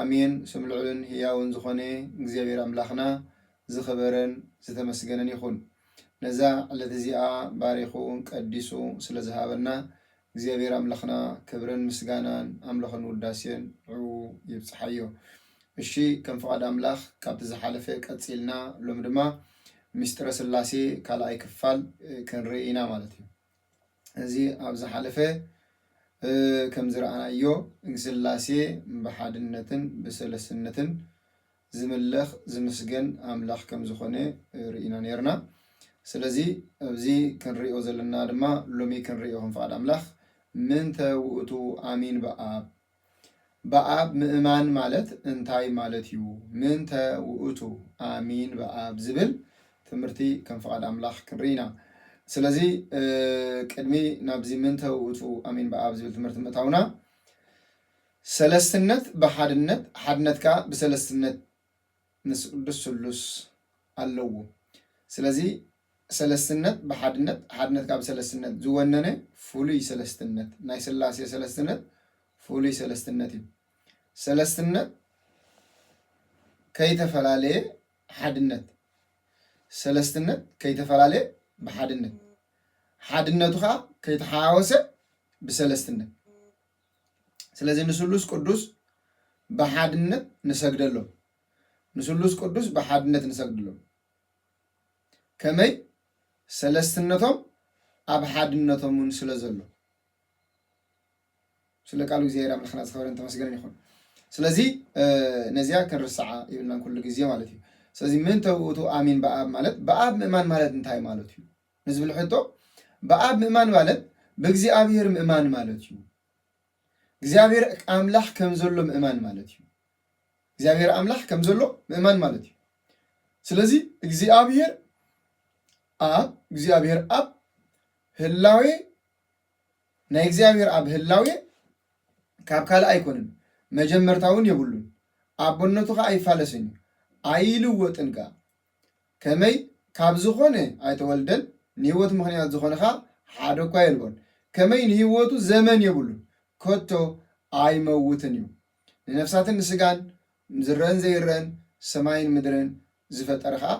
ኣሜን ስም ልዑልን ህያውን ዝኾነ እግዚኣብሔር ኣምላኽና ዝኽበረን ዝተመስገነን ይኹን ነዛ ዕለት እዚኣ ባሪኹ ቀዲሱ ስለ ዝሃበና እግዚኣብሔር ኣምላኽና ክብርን ምስጋናን ኣምልኾን ውዳሴን ንዕኡ ይብጽሓዮ እሺ ከም ፍቃድ ኣምላኽ ካብቲ ዝሓለፈ ቀጺልና ሎሚ ድማ ምስጢረ ስላሴ ካልኣይ ክፋል ክንርኢ ኢና ማለት እዩ። እዚ ኣብ ዝሓለፈ ከም ዝረኣናዮ ንስላሴ ብሓድነትን ብሰለስነትን ዝምለኽ ዝምስገን ኣምላኽ ከም ዝኾነ ርኢና ኔርና። ስለዚ ኣብዚ ክንሪኦ ዘለና ድማ ሎሚ ክንሪኦ ከም ፍቓድ ኣምላኽ ምንተ ውእቱ ኣሚን በኣብ በኣብ ምእማን ማለት እንታይ ማለት እዩ? ምንተ ውእቱ ኣሚን በኣብ ዝብል ትምህርቲ ከም ፍቓድ ኣምላኽ ክንርኢ ኢና። ስለዚ ቅድሚ ናብዚ ምንተ ውእቱ ኣሚን በኣብ ዝብል ትምህርቲ ምእታውና ሰለስትነት ብሓድነት ሓድነት ከኣ ብሰለስትነት ምስ ቅዱስ ስሉስ ኣለዉ። ስለዚ ሰለስትነት ብሓድነት፣ ሓድነት ከኣ ብሰለስትነት ዝወነነ ፍሉይ ሰለስትነት፣ ናይ ስላሴ ሰለስትነት ፍሉይ ሰለስትነት እዩ። ሰለስትነት ከይተፈላለየ ሓድነት፣ ሰለስትነት ከይተፈላለየ ብሓድነት፣ ሓድነቱ ከኣ ከይተሓዋወሰ ብሰለስትነት። ስለዚ ንስሉስ ቅዱስ ብሓድነት ንሰግደሎም ንስሉስ ቅዱስ ብሓድነት ንሰግድሎም ከመይ ሰለስትነቶም ኣብ ሓድነቶም እውን ስለ ዘሎ ስለ ቃሉ እግዚኣብሔር ኣምላኽና ዝኸበረን ተመስገነን ይኹን። ስለዚ ነዚያ ክንርስዓ ይብልናን ኩሉ ግዜ ማለት እዩ። ስለዚ ምእንተ ውእቱ ኣሚን በኣብ ማለት በኣብ ምእማን ማለት እንታይ ማለት እዩ? ንዝብል ሕቶ ብኣብ ምእማን ማለት ብእግዚኣብሔር ምእማን ማለት እዩ። እግዚኣብሔር ኣምላኽ ከም ዘሎ ምእማን ማለት እዩ። እግዚኣብሔር ኣምላኽ ከም ዘሎ ምእማን ማለት እዩ። ስለዚ እግዚኣብሔር ኣብ እግዚኣብሔር ኣብ ህላዌ ናይ እግዚኣብሔር ኣብ ህላዌ ካብ ካልእ ኣይኮንን መጀመርታውን የብሉን ኣቦነቱ ከዓ ኣይፋለስን እዩ ኣይልወጥን ከዓ ከመይ ካብ ዝኾነ ኣይተወልደን ንህይወቱ ምኽንያት ዝኾነ ኸኣ ሓደ እኳ የልቦን ከመይ ንህይወቱ ዘመን የብሉን ከቶ ኣይመውትን እዩ ንነፍሳትን ንስጋን ዝረእን ዘይረእን ሰማይን ምድርን ዝፈጠረ ኸኣ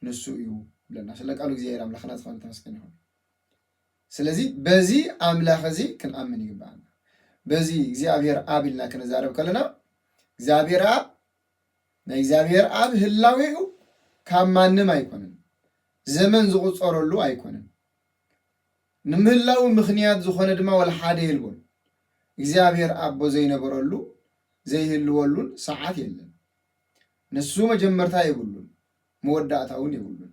ንሱ እዩ ይብለና ስለ ቃሉ እግዚኣብሔር ኣምላኽና ዝኾነ ተመስገን ይኹን ስለዚ በዚ ኣምላኽ እዚ ክንኣምን ይግብኣና በዚ እግዚኣብሔር ኣብ ኢልና ክንዛረብ ከለና እግዚኣብሔር ኣብ ናይ እግዚኣብሔር ኣብ ህላዌኡ ካብ ማንም ኣይኮንን ዘመን ዝቑጸረሉ ኣይኮንን ንምህላው ምኽንያት ዝኾነ ድማ ወላ ሓደ የልቦን እግዚኣብሔር ኣቦ ዘይነበረሉ ዘይህልወሉን ሰዓት የለን ንሱ መጀመርታ የብሉን መወዳእታ እውን የብሉን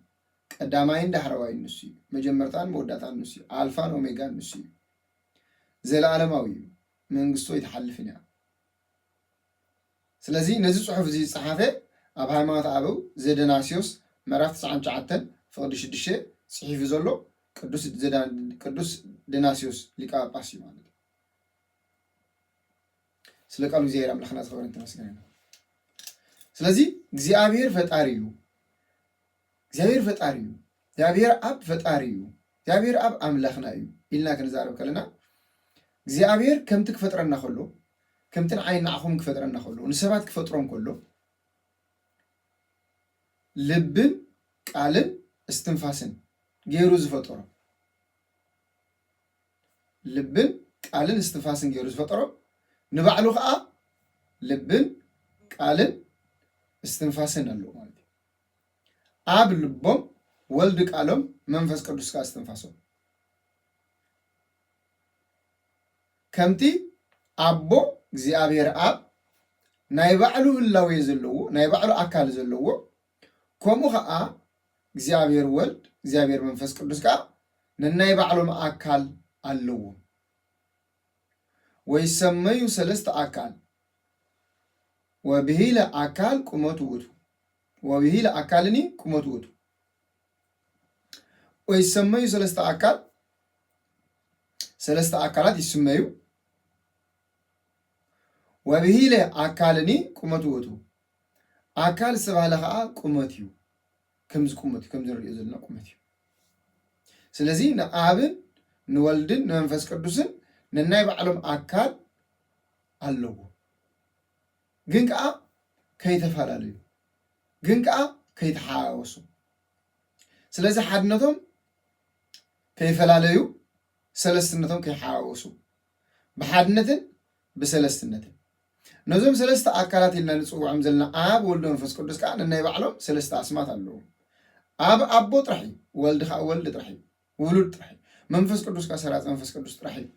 ቀዳማይን ዳሕረዋይን ንሱ እዩ መጀመርታን መወዳእታን ንሱ እዩ ኣልፋን ኦሜጋን ንሱ እዩ ዘለዓለማዊ እዩ መንግስቱ ኣይትሓልፍን እያ ስለዚ ነዚ ጽሑፍ እዚ ዝጸሓፈ ኣብ ሃይማኖት ኣበው ዘደናስዮስ ምዕራፍ ትስዓን ትሽዓተን ፍቕዲ ሽዱሽተ ጽሒፉ ዘሎ ቅዱስ ደናስዮስ ሊቀ ጳጳስ እዩ ማለት እዩ። ስለ ቃሉ እግዚኣብሔር ኣምላኽና ዝኸበረን ተመስገነን። ስለዚ እግዚኣብሔር ፈጣሪ እዩ። እግዚኣብሄር ፈጣሪ እዩ፣ እግዚኣብሄር ኣብ ፈጣሪ እዩ፣ እግዚኣብሄር ኣብ ኣምላኽና እዩ ኢልና ክንዛረብ ከለና እግዚኣብሄር ከምቲ ክፈጥረና ከሎ ከምቲ ንዓይን ንዓኹምን ክፈጥረና ከሎ ንሰባት ክፈጥሮም ከሎ ልብን ቃልን እስትንፋስን ገይሩ ዝፈጠሮም ልብን ቃልን እስትንፋስን ገይሩ ዝፈጠሮም ንባዕሉ ከዓ ልብን ቃልን እስትንፋስን ኣለዎ ማለት እዩ። ኣብ ልቦም ወልድ ቃሎም መንፈስ ቅዱስ ከኣ እስትንፋሶም ከምቲ ኣቦ እግዚኣብሔር ኣብ ናይ ባዕሉ ህላዌ ዘለዎ ናይ ባዕሉ ኣካል ዘለዎ ከምኡ ከኣ እግዚኣብሔር ወልድ እግዚኣብሔር መንፈስ ቅዱስ ከኣ ነናይ ባዕሎም ኣካል ኣለዎም ወይሰመዩ ሰለስተ ኣካል ወብሂለ ኣካል ቁመቱ ውእቱ ወብሂ ለኣካልኒ ቁመቱ ውእቱ። ወይሰመዩ ሰለስተ ኣካል ሰለስተ ኣካላት ይስመዩ። ወብሂለ ኣካልኒ ቁመቱ ውእቱ ኣካል ዝተባህለ ከዓ ቁመት እዩ። ከምዚ ቁመት እዩ ከምዚ ንሪኦ ዘለና ቁመት እዩ። ስለዚ ንኣብን ንወልድን ንመንፈስ ቅዱስን ነናይ ባዕሎም ኣካል ኣለዎ። ግን ከኣ ከይተፈላለዩ ግን ከኣ ከይተሓዋወሱ ስለዚ ሓድነቶም ከይፈላለዩ ሰለስትነቶም ከይሓዋወሱ ብሓድነትን ብሰለስትነትን ነዞም ሰለስተ ኣካላት ኢልና ንጽውዖም ዘለና ኣብ ወልድ መንፈስ ቅዱስ ከኣ ነናይ ባዕሎም ሰለስተ ኣስማት ኣለዎም ኣብ ኣቦ ጥራሕ እዩ ወልድ ከኣ ወልድ ጥራሕ እዩ ውሉድ ጥራሕ እዩ መንፈስ ቅዱስ ከኣ ሰራጺ መንፈስ ቅዱስ ጥራሕ እዩ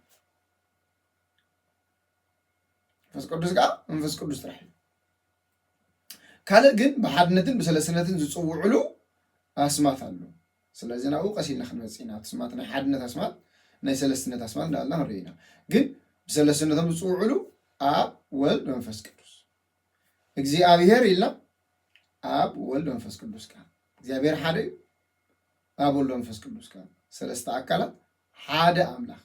መንፈስ ቅዱስ ከዓ መንፈስ ቅዱስ ጥራሕ እዩ ካልእ ግን ብሓድነትን ብሰለስነትን ዝፅውዕሉ ኣስማት ኣሎ ስለዚ ናብኡ ቀስ ኢልና ክንመፅእ ኢና ስማት ናይ ሓድነት ኣስማት ናይ ሰለስትነት ኣስማት እንዳበልና ክንርኢ ኢና ግን ብሰለስትነቶም ዝፅውዕሉ ኣብ ወልድ መንፈስ ቅዱስ እግዚኣብሄር ኢልና ኣብ ወልድ መንፈስ ቅዱስ ቃል እግዚኣብሄር ሓደ እዩ ኣብ ወልድ መንፈስ ቅዱስ ቃል ሰለስተ ኣካላት ሓደ ኣምላኽ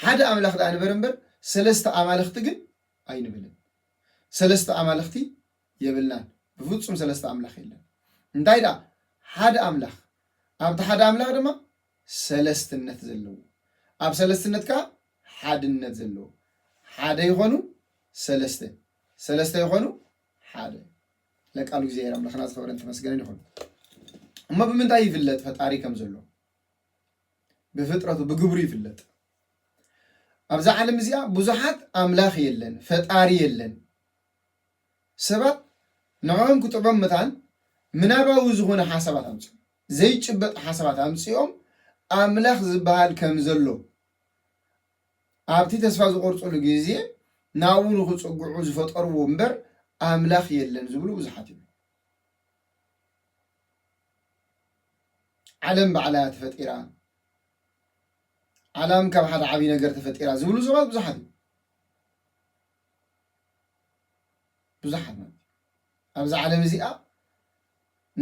ሓደ ኣምላኽ ደኣ ንበር እምበር ሰለስተ ኣማልኽቲ ግን ኣይንብልን ሰለስተ ኣማልኽቲ የብልናን ብፍጹም ሰለስተ ኣምላኽ የለን እንታይ ደኣ ሓደ ኣምላኽ ኣብቲ ሓደ ኣምላኽ ድማ ሰለስትነት ዘለዎ ኣብ ሰለስትነት ከዓ ሓድነት ዘለዎ ሓደ ይኾኑ ሰለስተ ሰለስተ ይኾኑ ሓደ ለቃሉ እግዚኣብሔር ኣምላኽና ዝኸበረን ተመስገነን ይኹን እሞ ብምንታይ ይፍለጥ ፈጣሪ ከም ዘሎ ብፍጥረቱ ብግብሩ ይፍለጥ። ኣብዛ ዓለም እዚኣ ብዙሓት ኣምላኽ የለን፣ ፈጣሪ የለን። ሰባት ንዕኦም ክጥዕም መታን ምናባዊ ዝኾነ ሓሳባት ኣምፅኦም ዘይጭበጥ ሓሳባት ኣምፅኦም ኣምላኽ ዝበሃል ከም ዘሎ ኣብቲ ተስፋ ዝቆርፅሉ ግዜ ናብኡ ንክፅግዑ ዝፈጠርዎ እምበር ኣምላኽ የለን ዝብሉ ብዙሓት እዮም። ዓለም ባዕላ እያ ተፈጢራ፣ ዓላም ካብ ሓደ ዓብዪ ነገር ተፈጢራ ዝብሉ ሰባት ብዙሓት እዮም። ብዙሓት ማለት እዩ። ኣብዚ ዓለም እዚኣ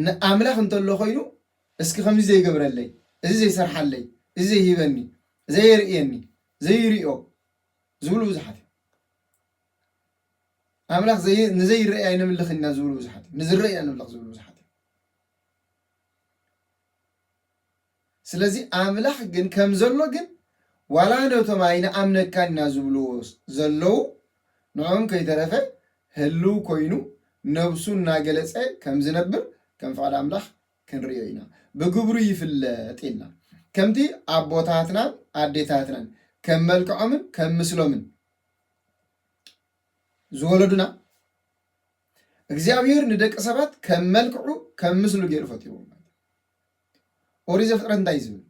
ንኣምላኽ እንተሎ ኮይኑ እስኪ ከምዚ ዘይገብረለይ፣ እዚ ዘይሰርሓለይ፣ እዚ ዘይሂበኒ፣ ዘየርእየኒ፣ ዘይርእዮ ዝብሉ ብዙሓት እዮም። ኣምላኽ ንዘይረኣይ ነምልኽ ኢና ዝብሉ ብዙሓት እዮም። ንዝረኣይ ኢና ነምልኽ ዝብሉ ብዙሓት እዮም። ስለዚ ኣምላኽ ግን ከም ዘሎ ግን ዋላ ነቶም ኣይንኣምነካን ኢና ዝብልዎ ዘለዉ ንዕኦም ከይተረፈ ህልው ኮይኑ ነብሱ እናገለጸ ከም ዝነብር ከም ፍቓድ ኣምላኽ ክንርእዮ ኢና። ብግብሩ ይፍለጥ ኢልና ከምቲ ኣቦታትናን ኣዴታትናን ከም መልክዖምን ከም ምስሎምን ዝወለዱና እግዚኣብሄር ንደቂ ሰባት ከም መልክዑ ከም ምስሉ ገይሩ ፈጢርዎም ማለት እዩ። ኦሪት ዘፍጥረት እንታይ እዩ ዝብል?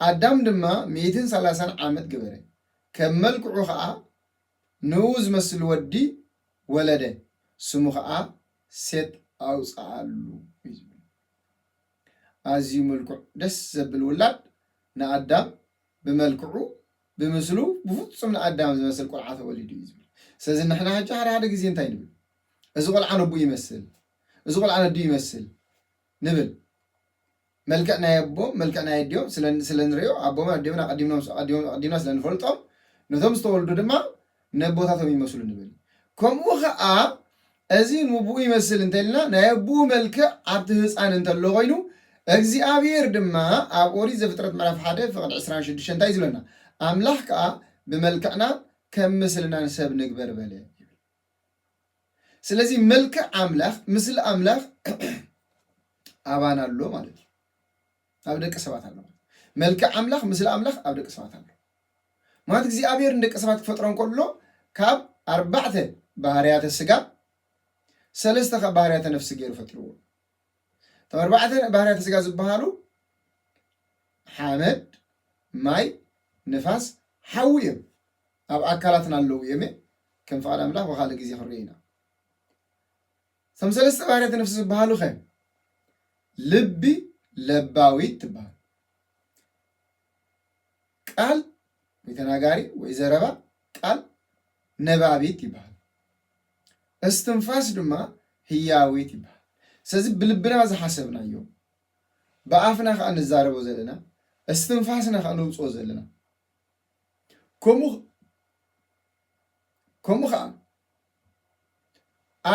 ኣዳም ድማ ሚእትን ሰላሳን ዓመት ገበረ፣ ከም መልክዑ ኸዓ ንእኡ ዝመስል ወዲ ወለደ፣ ስሙ ኸዓ ሴት ኣውፅኣሉ እዩ ዝብል። ኣዝዩ ምልኩዕ ደስ ዘብል ውላድ ንኣዳም ብመልክዑ ብምስሉ ብፍጹም ንኣዳም ዝመስል ቁልዓ ተወሊዱ እዩ ዝብል ስለዚ ንሕና ሕጂ ሓደ ሓደ ግዜ እንታይ ንብል እዚ ቆልዓ ነቦኡ ይመስል እዚ ቆልዓ ነዲኡ ይመስል ንብል መልክዕ ናይ ኣቦም መልክዕ ናይ ኣዲኦም ስለ ንሪኦ ኣቦምን ኣዲኦምን ኣቐዲምና ስለ ንፈልጦም ነቶም ዝተወልዱ ድማ ነቦታቶም ይመስሉ ንብል። ከምኡ ከኣ እዚ ንቡኡ ይመስል እንተ ኢልና ናይ ኣቡኡ መልክዕ ኣብቲ ህጻን እንተሎ ኮይኑ እግዚኣብሄር ድማ ኣብ ኦሪት ዘፍጥረት ምዕራፍ ሓደ ፍቅድ ዕስራን ሽዱሽተን እንታይ እዩ ዝብለና ኣምላኽ ከኣ ብመልክዕናን ከም ምስልናን ሰብ ንግበር በለ ይብል። ስለዚ መልክዕ ኣምላኽ ምስሊ ኣምላኽ ኣባና ኣሎ ማለት እዩ። ኣብ ደቂ ሰባት ኣሎ ማለት መልክዕ ኣምላኽ ምስሊ ኣምላኽ ኣብ ደቂ ሰባት ኣሎ ማለት እግዚኣብሔር ንደቂ ሰባት ክፈጥሮም ከሎ ካብ ኣርባዕተ ባህርያተ ስጋ ሰለስተ ካብ ባህርያተ ነፍሲ ገይሩ ፈጥርዎ እቶም ኣርባዕተ ባህርያተ ስጋ ዝበሃሉ ሓመድ ማይ ንፋስ ሓዊ እዮም ኣብ ኣካላትና ኣለዉ እዮም ከም ፍቓድ ኣምላኽ ብካልእ ግዜ ክንሪኦ ኢና እቶም ሰለስተ ባህርያተ ነፍሲ ዝበሃሉኸ? ልቢ ለባዊት ትበሃል። ቃል ወይ ተናጋሪ ወይ ዘረባ ቃል ነባቢት ይበሃል። እስትንፋስ ድማ ህያዊት ይበሃል። ስለዚ ብልብና ዝሓሰብናዮ ብኣፍና ከዓ ንዛረቦ ዘለና እስትንፋስና ከዓ ነውፅኦ ዘለና ከምኡ ከምኡ ከዓ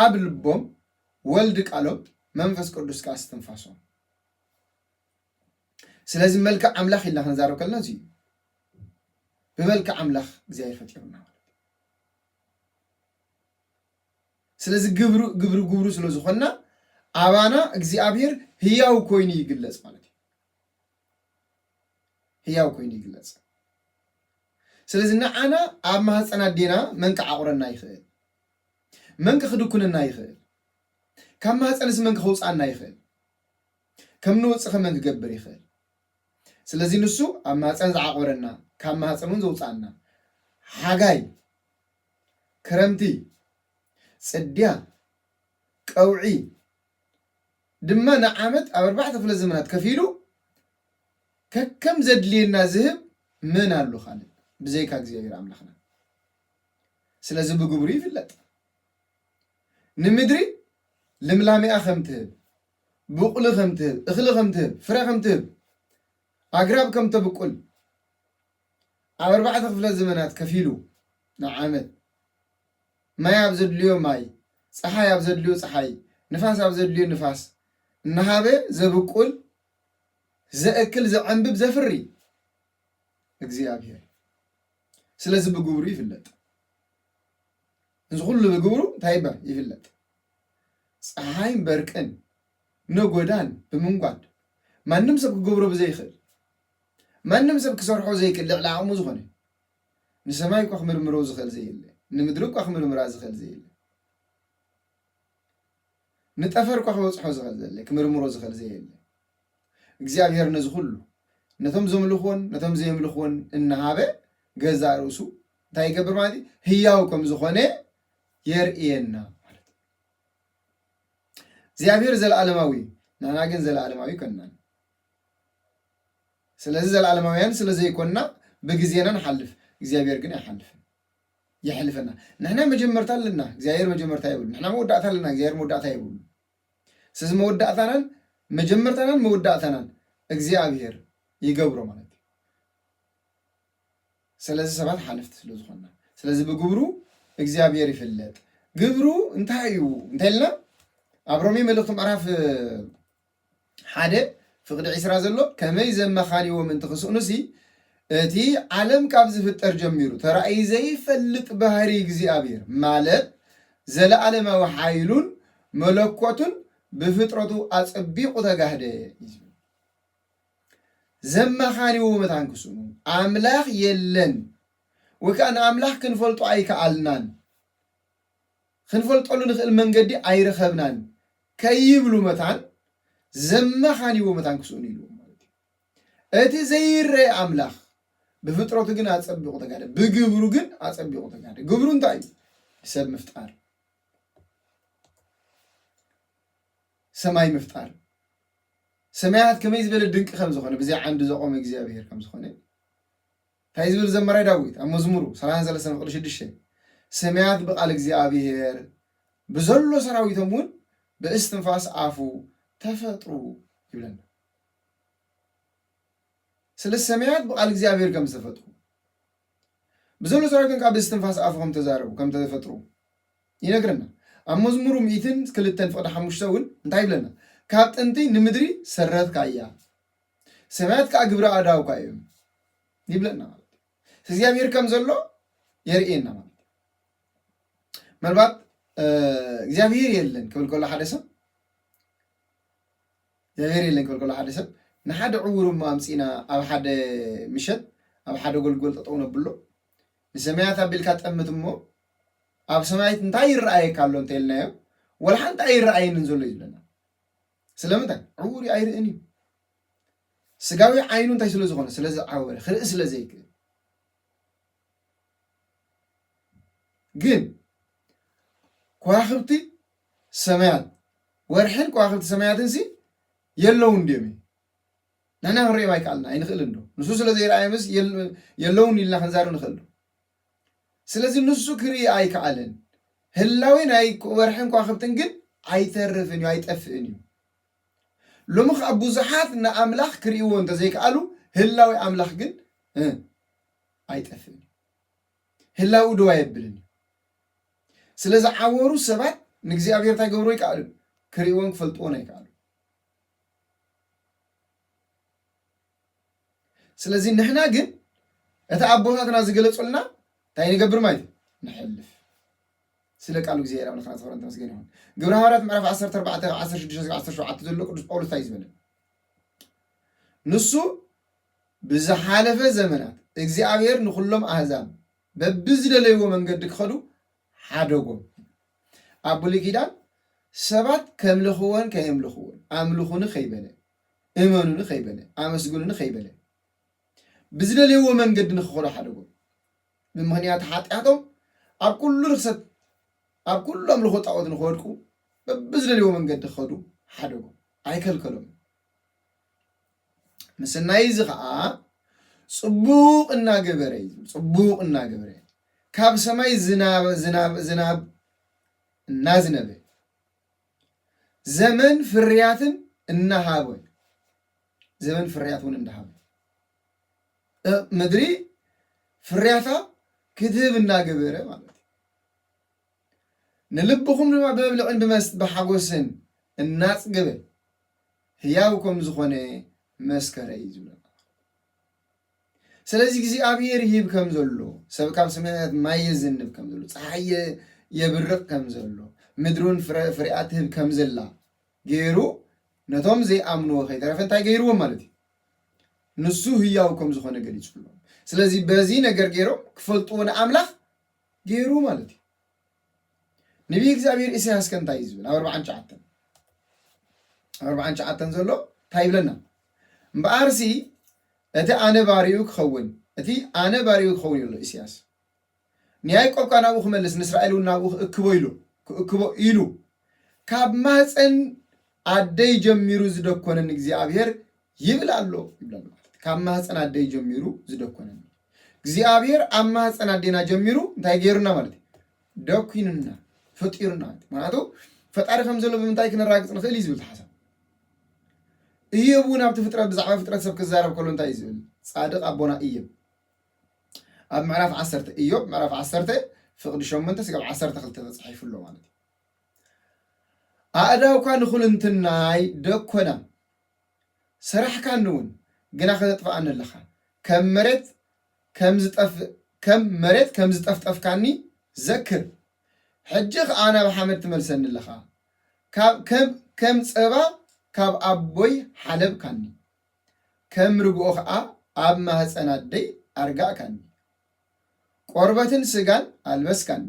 ኣብ ልቦም ወልድ ቃሎም መንፈስ ቅዱስ ከዓ እስትንፋሶም ስለዚ መልክዕ ኣምላኽ ኢልና ክንዛረብ ከለና እዚ እዩ ብመልክዕ ኣምላኽ እግዚኣብሔር ፈጢሩና ማለት ስለዚ ግብሩ ግብሪ ግብሩ ስለ ዝኾንና ኣባና እግዚኣብሔር ህያው ኮይኑ ይግለጽ ማለት እዩ ህያው ኮይኑ ይግለጽ። ስለዚ ንዓና ኣብ ማህፀን ኣዴና መን ክዓቑረና ይኽእል? መን ክኽድኩነና ይኽእል? ካብ ማህፀንስ መን ክኸውፅኣና ይኽእል? ከም ንወፅእኸ መን ክገብር ይኽእል? ስለዚ ንሱ ኣብ ማህፀን ዝዓቖረና ካብ ማህፀን እውን ዘውፅኣና ሓጋይ ክረምቲ ጽድያ ቀውዒ ድማ ንዓመት ኣብ ኣርባዕተ ክፍለ ዘመናት ከፊሉ ከከም ዘድልየና ዝህብ መን ኣሎ ካልእ ብዘይካ እግዚኣብሔር ኣምላኽና ስለዚ ብግብሩ ይፍለጥ ንምድሪ ልምላሜኣ ከም ትህብ ብቑሊ ከም ትህብ እኽሊ ከም ትህብ ፍረ ከም ትህብ ኣግራብ ከም ተብቁል ኣብ ኣርባዕተ ክፍለ ዘመናት ከፊሉ ንዓመት ማይ ኣብ ዘድልዮ ማይ፣ ጸሓይ ኣብ ዘድልዮ ጸሓይ፣ ንፋስ ኣብ ዘድልዮ ንፋስ እናሃበ ዘብቁል፣ ዘእክል፣ ዘዕምብብ፣ ዘፍሪ እግዚኣብሄር ስለዚ ብግብሩ ይፍለጥ። እዚ ኩሉ ብግብሩ እንታይ ይባል ይፍለጥ። ፀሓይን በርቅን ነጎዳን ብምንጓድ ማንም ሰብ ክገብሮ ብዘይኽእል ማንም ሰብ ክሰርሖ ዘይክል ልዕሊ ዓቕሙ ዝኾነ ንሰማይ እኳ ክምርምሮ ዝኽእል ዘየለ ንምድሪ እኳ ክምርምራ ዝኽእል ዘየለ ንጠፈር እኳ ክበጽሖ ዝኽእል ዘለ ክምርምሮ ዝኽእል ዘየለ እግዚኣብሔር ነዚ ኩሉ ነቶም ዘምልኽዎን ነቶም ዘየምልኽዎን እናሃበ ገዛ ርእሱ እንታይ ይገብር ማለት እዩ ህያው ከም ዝኾነ የርእየና ማለት እዩ እግዚኣብሔር ዘለዓለማዊ እዩ ንሕና ግን ዘለዓለማዊ ኣይኮንናን ስለዚ ዘለዓለማውያን ስለ ዘይኰንና ብግዜና ንሓልፍ፣ እግዚኣብሄር ግን ኣይሓልፍን። የሕልፈና። ንሕና መጀመርታ ኣለና፣ እግዚኣብሄር መጀመርታ የብሉን። ንሕና መወዳእታ ኣለና፣ እግዚኣብሄር መወዳእታ የብሉን። ስለዚ መወዳእታናን መጀመርታናን መወዳእታናን እግዚኣብሄር ይገብሮ ማለት እዩ። ስለዚ ሰባት ሓለፍቲ ስለ ዝዀንና፣ ስለዚ ብግብሩ እግዚኣብሄር ይፍለጥ። ግብሩ እንታይ እዩ እንተ ኢልና ኣብ ሮሜ መልእኽቱ ምዕራፍ ሓደ ፍቕዲ ዕስራ ዘሎ ከመይ ዘመኻንይዎ ምእንቲ ክስእኑሲ፣ እቲ ዓለም ካብ ዝፍጠር ጀሚሩ ተራእዩ ዘይፈልጥ ባህርይ እግዚኣብሔር ማለት ዘለዓለማዊ ሓይሉን መለኮቱን ብፍጥረቱ ኣጸቢቑ ተጋህደ እዩ ዝብል። ዘመኻንይዎ መታን ክስእኑ ኣምላኽ የለን ወይ ከኣ ንኣምላኽ ክንፈልጦ ኣይከኣልናን። ኽንፈልጠሉ ንኽእል መንገዲ ኣይረኸብናን ከይብሉ መታን ዘመኻንይዎ መታን ክስእኑ ኢልዎም ማለት እዩ። እቲ ዘይረኤ ኣምላኽ ብፍጥረቱ ግን ኣጸቢቑ ተጋደ፣ ብግብሩ ግን ኣጸቢቑ ተጋደ። ግብሩ እንታይ እዩ? ሰብ ምፍጣር፣ ሰማይ ምፍጣር፣ ሰማያት ከመይ ዝበለ ድንቂ ከም ዝኾነ ብዘይ ዓንዲ ዘቖመ እግዚኣብሄር ከም ዝኾነ፣ ታይ ዝብል ዘማራይ ዳዊት ኣብ መዝሙሩ ሰላሳን ሰለስተን ፍቅዲ ሽዱሽተ ስማያት ብቃል እግዚኣብሔር ብዘሎ ሰራዊቶም እውን ብእስትንፋስ ኣፉ ተፈጥሩ ይብለና ስለ ሰማያት ብቃል እግዚኣብሔር ከም ዝተፈጥሩ ብዘሎ ሰራዊቶም ከዓ ብእስትንፋስ ኣፉ ከም ተዛረቡ ከም ተፈጥሩ ይነግረና ኣብ መዝሙሩ ሚእትን ክልተን ፍቅዲ ሓሙሽተ እውን እንታይ ይብለና ካብ ጥንቲ ንምድሪ ሰረትካ እያ ሰማያት ከዓ ግብሪ ኣእዳውካ እዮም ይብለና ማለት እዩ። እግዚኣብሔር ከም ዘሎ የርእየና ማለት እዩ። ምናልባት እግዚኣብሔር የለን ክብል ከሎ ሓደ ሰብ እግዚኣብሔር የለን ክብል ከሎ ሓደ ሰብ ንሓደ ዕውር እሞ ኣምፂና ኣብ ሓደ ምሸት ኣብ ሓደ ጎልጎል ጠጠው ነብሎ ንሰማያት ኣቢልካ ጠምት እሞ ኣብ ሰማያት እንታይ ይረኣየካ ኣሎ እንተልናዮ ወላ ሓንቲ ኣይረኣየንን ዘሎ እዩ ዝብለና ስለምንታይ ዕዉር እዩ ኣይርእን እዩ ስጋዊ ዓይኑ እንታይ ስለ ዝኾነ ስለ ዝዓወረ ክርኢ ስለ ዘይክእል ግን ከዋኽብቲ ሰማያት ወርሕን ከዋኽብቲ ሰማያትን ሲ የለውን ድዮም እዩ ንሕና ክንሪኦም ኣይከኣልና ኣይንኽእል እንዶ ንሱ ስለ ዘይረኣዮምስ የለውን ኢልና ክንዛረብ ንኽእል ዶ ስለዚ ንሱ ክርኢ ኣይከኣለን። ህላዌ ናይ ወርሕን ከዋኽብትን ግን ኣይተርፍን እዩ፣ ኣይጠፍእን እዩ። ሎሚ ከኣ ብዙሓት ንኣምላኽ ክርእይዎ እንተ ዘይከኣሉ፣ ህላዌ ኣምላኽ ግን ኣይጠፍእን እዩ። ህላዌኡ ደው ኣየብልን እዩ። ስለ ዝዓወሩ ሰባት ንእግዚኣብሄር እንታይ ገብሩ ኣይከኣሉን? ክርእይዎን ክፈልጥዎን ኣይከኣሉን። ስለዚ ንሕና ግን እቲ ኣቦታትና ዝገለጹልና እንታይ ንገብር ማለት እዩ ንሕልፍ ስለ ቃሉ እግዚኣብሔር ኣምላኽና ዝኸበረን ተመስገን ይኹን ግብረ ሃዋርያት ምዕራፍ 14 ካብ 16 17 ዘሎ ቅዱስ ጳውሎስ እንታይ እዩ ዝበለ ንሱ ብዝሓለፈ ዘመናት እግዚኣብሔር ንኹሎም ኣህዛብ በብዝደለይዎ መንገዲ ክኸዱ ሓደጎም ኣብ ብሉይ ኪዳን ሰባት ከምልኽዎን ከየምልኽዎን ኣምልኹኒ ከይበለ እመኑኒ ከይበለ፣ ኣመስግኑኒ ከይበለ፣ ብዝደልየዎ መንገዲ ንክኸዱ ሓደጎም። ብምኽንያት ሓጢኣቶም ኣብ ኩሉ ርኽሰት፣ ኣብ ኩሉ ኣምልኾ ጣዖት ንክወድቁ በብዝደልየዎ መንገዲ ክኸዱ ሓደጎም። ኣይከልከሎምን። ምስናይ እዚ ኸዓ ጽቡቕ እናገበረ እዩ ዝብል። ጽቡቕ እናገበረ ካብ ሰማይ ዝናብ ዝናብ ዝናብ እናዝነበ ዘመን ፍርያትን እናሃበ እዩ። ዘመን ፍርያት እውን እንዳሃበ ምድሪ ፍርያታ ክትህብ እናገበረ ማለት እዩ። ንልብኹም ድማ ብመብልዕን ብመስት ብሓጎስን እናፅገበ ህያው ከም ዝኾነ መስከረ እዩ ዝብለና። ስለዚ እግዚኣብሔር ይህብ ከም ዘሎ ሰብ ካብ ሰማያት ማይ የዘንብ ከም ዘሎ ፀሓይ የ- የብርቕ ከም ዘሎ ምድሩን ፍረ ፍሬኣ ትህብ ከም ዘላ ገይሩ ነቶም ዘይኣምንዎ ከይተረፈ እንታይ ገይርዎም ማለት እዩ ንሱ ህያው ከም ዝኾነ ገሊጹሎም ስለዚ በዚ ነገር ገይሮም ክፈልጥዎ ንኣምላኽ ገይሩ ማለት እዩ ንብዪ እግዚኣብሄር ኢሳያስ ከ እንታይ እዩ ዝብል? ኣብ ኣርብዓን ትሽዓተን ኣብ ኣርብዓን ትሽዓተን ዘሎ እንታይ ይብለና? እምበኣርሲ እቲ ኣነ ባሪኡ ክኸውን እቲ ኣነ ባሪኡ ክኸውን ኢሉ ኢሳያስ ንያዕቆብ ከኣ ናብኡ ክመልስ ንእስራኤል እውን ናብኡ ክእክቦ ኢሉ ክእክቦ ኢሉ ካብ ማህፀን ኣደይ ጀሚሩ ዝደኮነኒ እግዚኣብሔር ይብል ኣሎ ይብለና። ካብ ማህፀን ኣደይ ጀሚሩ ዝደኮነኒ እግዚኣብሔር ኣብ ማህፀን ኣዴና ጀሚሩ እንታይ ገይሩና ማለት እዩ ደኩኑና ፈጢሩና ማለት እዩ። ምክንያቱ ፈጣሪ ከም ዘሎ ብምንታይ ክነራግፅ ንኽእል እዩ ዝብል ተሓሳብ እዮብ እውን ኣብቲ ፍጥረት ብዛዕባ ፍጥረት ሰብ ክዛረብ ከሎ እንታይ እዩ ዝብል ፃድቅ ኣቦና እዮብ ኣብ ምዕራፍ ዓሰርተ እዮብ ምዕራፍ ዓሰርተ ፍቅዲ ሸሞንተ ስጋብ ዓሰርተ ክልተ ተፃሒፉ ኣሎ ማለት እዩ ኣእዳውካ ንዅልንትናይ ደኰናም፣ ስራሕካንውን ግና ኸተጥፍኣኒ ኣለኻ፣ ከም መሬት ከም መሬት ከም ዝጠፍጠፍካኒ ዘክር፣ ሕጂ ኸኣ ናብ ሓመድ ትመልሰኒ ኣለኻ፣ ከም ጸባ ካብ ኣቦይ ሓለብካኒ፣ ከም ርግኦ ኸኣ ኣብ ማህጸን ኣደይ ኣርጋእካኒ። ቈርበትን ስጋን ኣልበስካኒ፣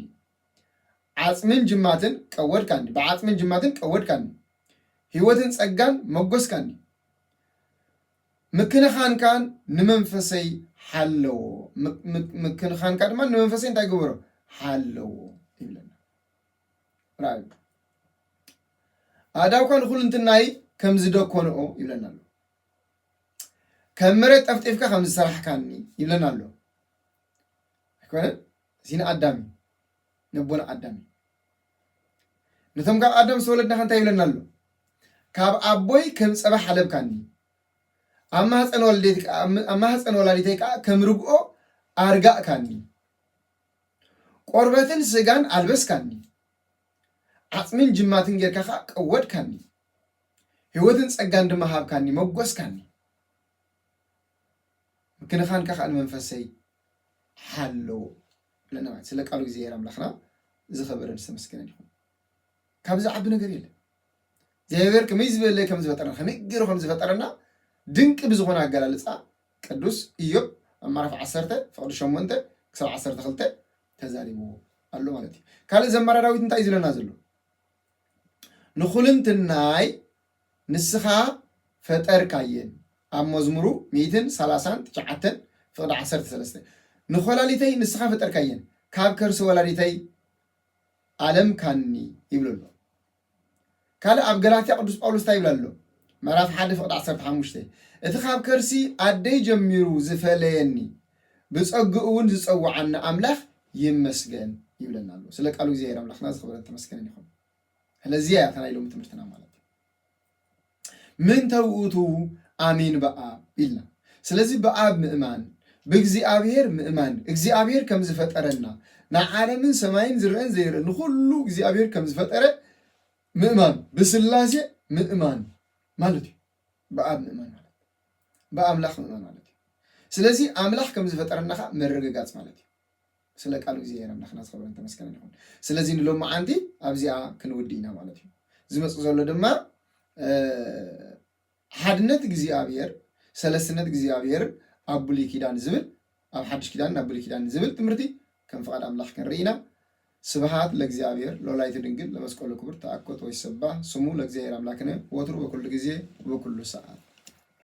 ዓጽምን ጅማትን ቀወድካኒ ብዓጽምን ጅማትን ቀወድካኒ ሕይወትን ጸጋን መጎስካኒ ምክንኻንካን ንመንፈሰይ ሓለዎ ምክንኻንካ ድማ ንመንፈሰይ እንታይ ግበሮ ሓለዎ ይብለና ራዩ ኣእዳውካ ንኹልንትናይ ከም ዝደኮንኦ ይብለና ኣሎ ከም መሬት ጠፍጢፍካ ከም ዝሰራሕካኒ ይብለና ኣሎ ኣይኮነን እዚ ንኣዳም እዩ ነቦና ኣዳም እዩ ነቶም ካብ ኣዳም ዝተወለድናኸ እንታይ ይብለና ኣሎ ካብ ኣቦይ ከም ፀባ ሓለብካኒ ኣብ ማህፀን ወለደይት ከ- ኣብ ኣብ ማህፀን ወላዲተይ ከዓ ከም ርግኦ ኣርጋእካኒ ቆርበትን ስጋን ኣልበስካኒ ዓፅምን ጅማትን ጌርካ ከዓ ቀወድካኒ ህይወትን ፀጋን ድማ ሃብካኒ መጎስካኒ ምክንኻንካ ከዓ ንመንፈሰይ ሓልው ይብለና ማለት ስለ ቃሉ እግዚኣብሔር ኣምላክና ዝኸበረን ዝተመስገነን ይኹን። ካብዚ ዝዓቢ ነገር የለን። እግዚኣብሔር ከመይ ዝበለ ከም ዝፈጠረና ከመይ ገይሩ ከም ዝፈጠረና ድንቂ ብዝኾነ ኣገላልፃ ቅዱስ ኢዮብ ኣብ ምዕራፍ ዓሰርተ ፍቕዲ ሸሞንተ ክሳብ ዓሰርተ ክልተ ተዛሪብዎ ኣሎ ማለት እዩ። ካልእ ዘማሪ ዳዊት እንታይ እዩ ዝለና ዘሎ? ንኹልንትናይ ንስኻ ፈጠርካየን ኣብ መዝሙሩ ሚእትን ሰላሳን ትሽዓተን ፍቕዲ ዓሰርተ ሰለስተ ንኮላሊተይ ንስኻ ፈጠርካየን ካብ ከርሲ ወላዲተይ ኣለምካኒ ይብሎ ኣሎ ካልእ ኣብ ገላትያ ቅዱስ ጳውሎስ እንታይ ይብል ኣሎ ምዕራፍ ሓደ ፍቕዲ ዓሰርተ ሓሙሽተ እቲ ካብ ከርሲ ኣደይ ጀሚሩ ዝፈለየኒ ብጸግኡ እውን ዝጸውዓኒ ኣምላኽ ይመስገን ይብለና ኣሎ ስለ ቃሉ እግዚኣብሔር ኣምላኽና ዝኽብረን ተመስገነን ይኹን ስለዚያ እያ እታ ናይ ሎሚ ትምህርትና ማለት እዩ ምንተ ውእቱ ኣሚን በኣብ ኢልና ስለዚ ብኣብ ምእማን ብእግዚኣብሔር ምእማን እግዚኣብሔር ከም ዝፈጠረና ንዓለምን ሰማይን ዝረአን ዘይረአን ንኩሉ እግዚኣብሔር ከም ዝፈጠረ ምእማን ብስላሴ ምእማን ማለት እዩ ብኣብ ምእማን ማለት ብኣምላኽ ምእማን ማለት እዩ ስለዚ ኣምላኽ ከም ዝፈጠረና ከዓ ምርግጋፅ ማለት እዩ ስለ ቃሉ እግዚኣብሔር ኣምላክና ዝከበረን ተመስገነን ይኩን ስለዚ ንሎማዓንቲ ኣብዚኣ ክንውዲ ኢና ማለት እዩ ዝመጽእ ዘሎ ድማ ሓድነት እግዚኣብሔር ሰለስትነት እግዚኣብሔርን ኣብ ብሉይ ኪዳን ዝብል ኣብ ሓድሽ ኪዳንን ኣብ ብሉይ ኪዳንን ዝብል ትምህርቲ ከም ፍቃድ ኣምላክ ክንርኢ ኢና ስብሃት ለእግዚኣብሔር ለወላዲቱ ድንግል ለመስቀሉ ክቡር ተኣኮት ወይሰባህ ስሙ ለእግዚኣብሔር ኣምላክነ ወትሩ በኩሉ ግዜ ወበኩሉ ሰዓት